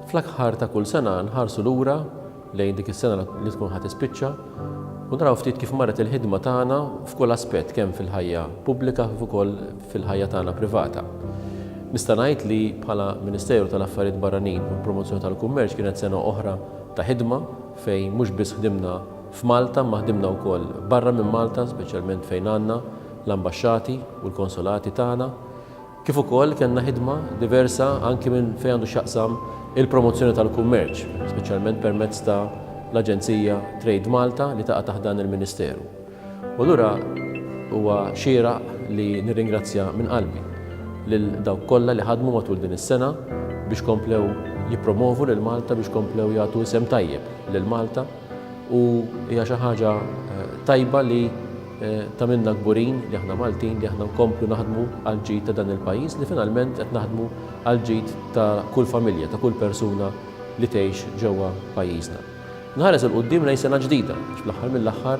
Fl-aħħar ta' kull sena nħarsu lura lejn dik is-sena li tkun ħadd ispiċċa u naraw ftit kif marret il-ħidma tagħna f'kull aspett kemm fil-ħajja pubblika kif ukoll fil-ħajja tagħna privata. Nista' ngħid li bħala Ministeru tal-Affarijiet Barranin u l-Promozzjoni tal-Kummerċ kienet sena oħra ta' ħidma fejn mhux biss ħdimna F'Malta imma ħdimna wkoll barra minn Malta speċjalment fejn għandna l-ambaxxati u l-konsolati tagħna kif ukoll kellna ħidma diversa anki minn fejn għandu x'jaqsam il-promozzjoni tal-kummerċ speċjalment permezz ta' l-aġenzija Trade Malta li taqa' taħt dan il-Ministeru. U allura huwa xieraq li nirringrazzja minn qalbi lil dawk kollha li ħadmu matul din is-sena biex komplew jippromovu lil Malta biex komplew jagħtu isem tajjeb lil Malta. U hija xi ħaġa tajba li tagħmilna kburin li aħna Maltin li aħna nkomplu naħdmu għall-ġid ta' dan il-pajjiż li finalment qed naħdmu għall-ġid ta' kull familja, ta' kull persuna li tgħix ġewwa pajjiżna. Nħares 'il quddiem lejn sena ġdida għax fl-aħħar mill-aħħar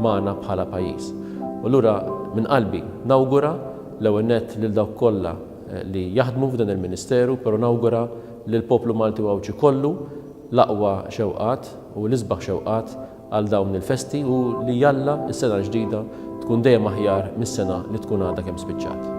magħna bħala pajjiż. U allura minn qalbi nawgura l-ewwel nett lil dawk kollha li jaħdmu f'dan il-Ministeru, però nawgura lill-poplu Malti u Għawdxi kollu l-aqwa xewqat u l-isbaħ xewqat għal dawn il-festi u li jalla s-sena l-ġdida tkun dejjem aħjar mis-sena li tkun għadha kemm spiċċat.